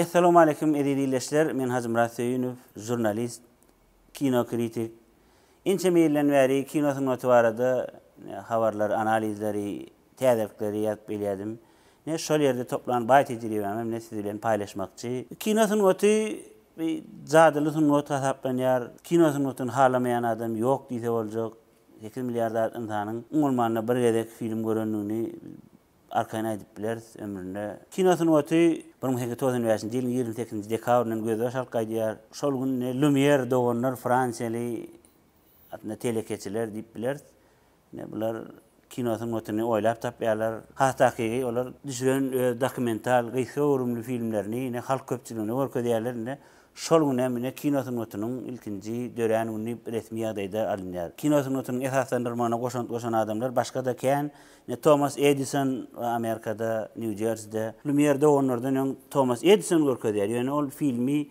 Essalawmaleýkim eziz ildeşler, men Hajymyrat Söýünow, žurnalist, kino kritik. Ençeme ýyldan bäri kino sungaty barada habarlar, analizleri, täzelikleri ýazyp gelýärdim. Ine şol ýerde toplan baý tejribämi ine siz bilen paýlaşmakçy. Kino sungaty bir jadyly sungat hasaplanýar. Kino sungatyny halamaýan adam ýok diýse boljak. Sekiz milliard zat ynsanyň umuman-da bir gezek film görendigini arkaýyn aýdyp bileris, ömründe. Kino sungaty bir müň sekiz ýüz togsan bäşinji ýylyň ýigrimi sekizinji dekabryndan gözbaş alyp gaýdýar. Şol günde Lumýer doganlar fransiýaly aslynda telekeçiler diýip bileris. Ine, bular kino sungatyny oýlap tapýarlar. Has takygy, olar düşüren öz dokumental gysga göwrümli filmlerini ine halk köpçüligine görkezýärler. Ine, Şol gün hem ine kino sungatynyň ilkinji dörän güni diýip resmi ýagdaýda alynýar. Kino sungatynyň esaslandyrmagyna goşant goşan adamlar başga-da kän, ine Tomas Edison we Amerikada, Nýu-Jerside, Lumýer doganlardan öň Tomas Edison görkezýär, ýöne ol filmi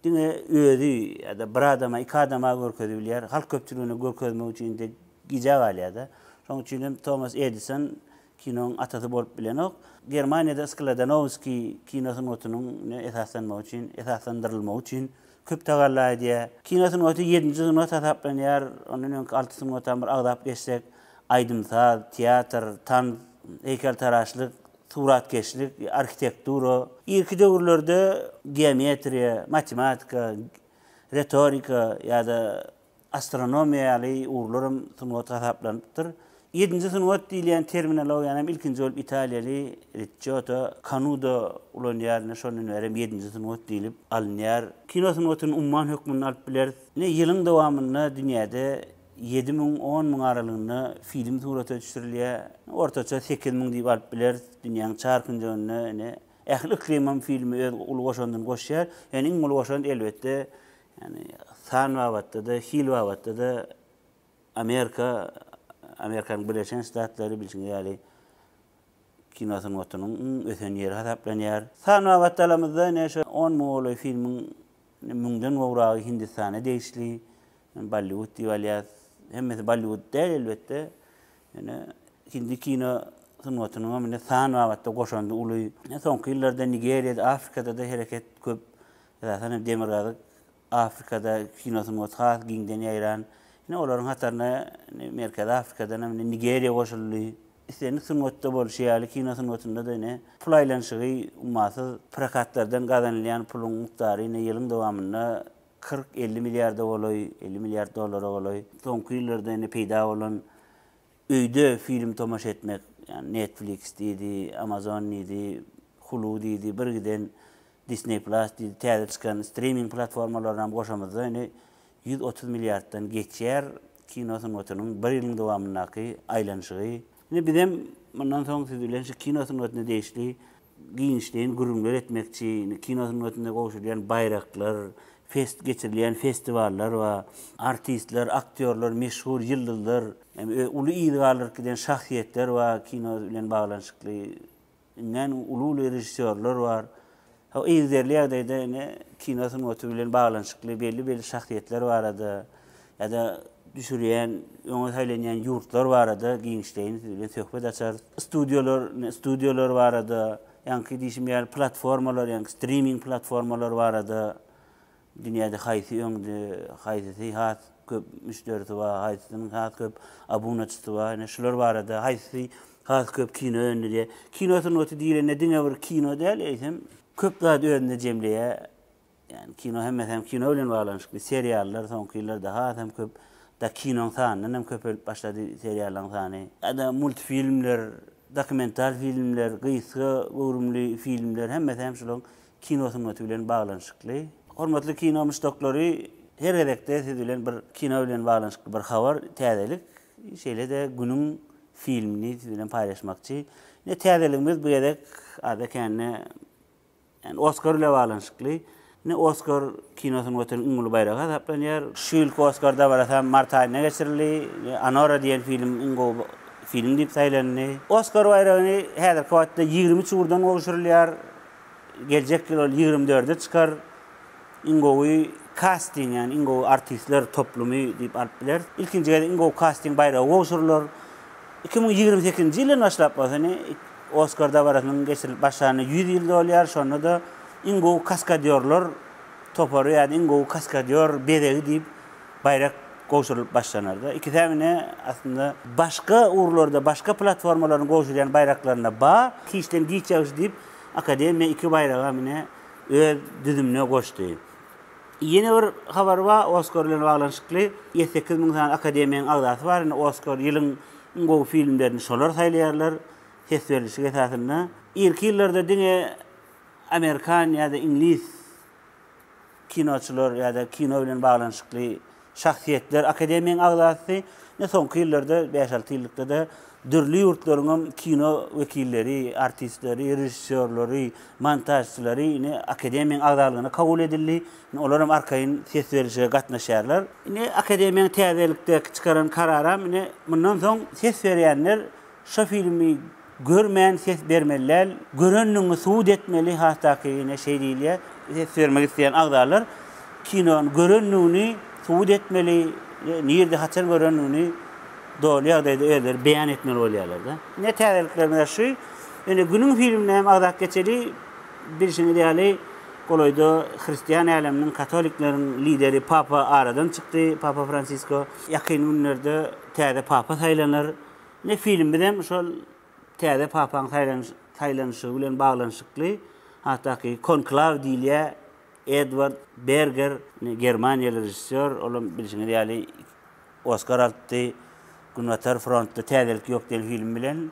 diňe özi ýa-da bir adama, iki adama görkezibilýär, halk köpçüligine görkezmek üçin-de gijä galýar-da. Şonuň üçin hem Tomas Edison Kinoň atasy bolup bilenok. Germaniýada Skladanowskiý kino sungatynyň ne esaslanmagy üçin, esaslandyrylmagy üçin köp tagalla edýär. Kino sungaty ýedinji sungat hasaplanýar. Ondan öňki alty sungata bir agzap geçsek, aýdym-saz, teatr, tans, heýkeltaraşlyk, suratkeşlik, arhitektura, irki döwürlerde geometriýa, matematika, retorika ýa-da astronomiýa ýaly ugurlar hem sungat hasaplanypdyr. Ýedinji sungat diýilýän terminologiýany hem ilkinji bolup italiýaly Riçioto Kanudo ulanýar, ine, şondan bäri hem ýedinji sungat diýlip alynýar. Kino sungatyny umman hökmünde alyp bileris. Ine, ýylyň dowamynda dünýäde ýedi müň, on müň aralygynda film surata düşürilýär. Ortaça sekiz müň diýip alyp bileris. Dünýäniň çar künjeginde, ine, ähli yklymam filme öz uly goşandyny goşýar. Ýöne iň uly goşant, elbetde, Ýagny san babatda-da, hil babatda-da Amerika, Amerikanyň Birleşen Ştatlary bilşiňiz ýaly kino sungatynyň iň ösen ýeri hasaplanýar. San babatda alamyzda ine şu on müň golaý filmiň müňden gowragy Hindistana degişli, Bolliwud diýip alýas. Hemmesi Bolliwud däl elbetde. Ýöne hindi kino sungatynyň hem indi san babatda goşandy uly. Soňky ýyllarda Nigeriýada, Afrikada-da hereket köp. Esasan hem Demirgazyk Afrikada kino sungaty has giňden ýaýran. Ine, olaryň hataryna indi Merkezi Afrikadan hem indi Nigeriýa goşuldy. Islendik sungatda bolşy ýaly, kino sungatynda-da ine, pul aýlanyşygy ummasyz. Prokatlardan gazanylýan puluň mukdary ine, ýylyň dowamynda kyrk, elli milliarda golaý, elli milliard dollara golaý. Soňky ýyllarda indi peýda bolan Öýde film tomaşa etmek, ýagny Netflix diýdi, Amazon diýdi, Hulu diýdi, bir giden Disney Plus diýdi, täze çykan streaming platformalarynyam goşamyzda indi ýüz otuz milliarddan geçýär kino sungatynyň bir ýylyň dowamyndaky aýlanyşygy. Indi bizem mundan soň siz bilen şu kino sungatyna degişli giňişleýin gürrüňler etmekçi, indi kino sungatynda gowşurylýan baýraklar, fest geçirilýän festiwallar bar. Artistler, aktýorlar, meşhur ýyldyzlar, hem uly yz galdyryp giden şahsyýetler bar, kino bilen baglanyşykly iňňän uly-uly režissýorlar bar. Hao yzderli ýagdaýda ine kino sungaty bilen baglanyşykly belli-belli şahsyýetler barada ýa-da düşürýän, öňe saýlanýan ýurtlar barada giňişleýin siz bilen söhbet açarys. Studiýalar, studiýalar barada, ýaňky diýşim ýaly platformalar, ýaňky striming platformalar barada, dünýäde haýsy öňde, haýsysy has köp müşderisi bar, haýsysynyň has köp abunaçysy bar, ine şular barada, haýsysy has köp kino öndürýär. Kino sungaty diýlende diňe bir kino däl, eýsem köp zady özünde jemleýär. Ýagny kino hemmesi hem kino bilen baglanyşykly. Seriallar soňky ýyllarda has hem köp. Hatda kinoň sanyndan hem köpelip başlady seriallaryň sany. Ýa-da multfilmler, dokumental filmler, gysga göwrümli filmler hemmesi hem şularyň kino sungaty bilen baglanyşykly. Hormatly kino muşdaklary, her gezekde siz bilen bir kino bilen baglanyşykly bir habar, täzelik, şeýle-de günüň filmini siz bilen paýlaşmakçy. Ine täzeligimiz bu gezek az-da kände Indi Oskar bile baglanyşykly. Indi Oskar kinosynyň watan iň uly baýragy hasaplanýar. Şu ýylky Oskar dabarasy hem mart aýynda geçirildi. Anora diýen film iň gowy film diýip saýlandy. Oskar baýragyny häzirki wagtda ýigrimi üç ugurdan gowşurylýar. Geljek ýyl ol ýigrimi dörde çykar. iň gowy kasting, ýagny iň gowy artistler toplumy diýip alyp bileris. Ilkinji gezek iň gowy kasting baýragy gowşurylar. Iki müň ýigrimi sekizinji ýyldan başlap bolsa ine, Oskar dabarasynyň geçirilip başlanyna ýüz ýyl dolýar, şonda-da iň gowy kaskadýorlar topary ýa-da iň gowy kaskadýor bezegi diýip baýrak gowşurylyp başlanar-da. Ikisem ine, aslynda, başga ugurlarda, başga platformalaryň gowşurýan baýraklaryna ba, giçden giç ýagşy diýip, akademiýa iki baýragam ine, öz düzümine goşdy. Ýene bir habar bar Oskar bilen baglanyşykly. Ýedi sekiz müň sany akademiýanyň agzasy bar. Indi Oskar ýylyň iň gowy filmlerini şolar saýlaýarlar ses berlişik esasynda. Irki ýyllarda diňe amerikan ýa-da iňlis kinoçylar ýa-da kino bilen baglanyşykly Şahsyýetler akademiýaň agzasy, ine soňky ýyllarda, bäş-alty ýyllykda-da dürli ýurtlaryň hem kino wekilleri, artistleri, režissýorlary, montažçylary ine akademiýaň agzalygyna kabul edildi. Ine olar hem arkaýyn ses berlişige gatnaşýarlar. Ine akademiýaň täzelikde çykaran kararam ine mundan soň ses berýänler Şo filmi görmän ses bermeli däl, görendigiňi subut etmeli hasakyne şeý diýilýär. Ses bermek isleýän agzalar kinony görendigini subut etmeli, nirde haçan görendigini doly ýagdaýda özleri beýan etmeli bolýarlarda. Ine täzeliklerimiz şu. Ýöne günüň filmine hem agzap geçeli, bilşiňiz ýaly golaýda hristian äleminiň katolikleriň lideri papa aradan çykdy, papa Fransisko. Ýakyn günlerde täze papa saýlanar. Indi filmimiz hem şol täze papaň saýlanyşygy bilen baglanyşykly. Hatdaky Konklaw diýilýär. Edward Berger, germaniýaly režissýor, ol hem bilşiňiz ýaly Oskar alypdy Günbatar frontda täzelik ýok diýen film bilen.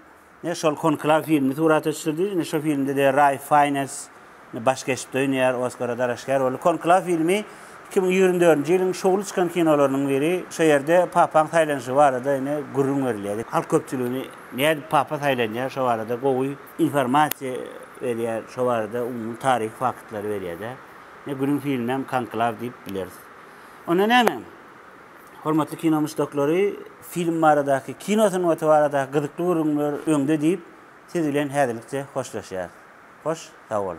Ine şol Konklaw filmini surata düşürdi. Indi şu filmde-de Raýf Faýnes Baş keşpde oýnaýar, Oskara dalaşgär boldy. Konklaw filmi iki müň ýigrimi dördünji ýylyň şowly çykan kinolarynyň biri. Şu ýerde papaň saýlanyşy barada ine gürrüň berilýär. Halk köpçüligini nädip papa saýlanýar şo barada gowy informasiýa berýär, şo barada umumy taryhy faktlary berýär-de. Ine günüň filmi hem Konklaw diýip bileris. Onda näme? Hormatly kino muşdaklary, film baradaky, kino sungaty baradaky gyzykly gürrüňler öňde diýip, Siz bilen häzirlikçe hoşlaşýarys. Hoş, sag boluň.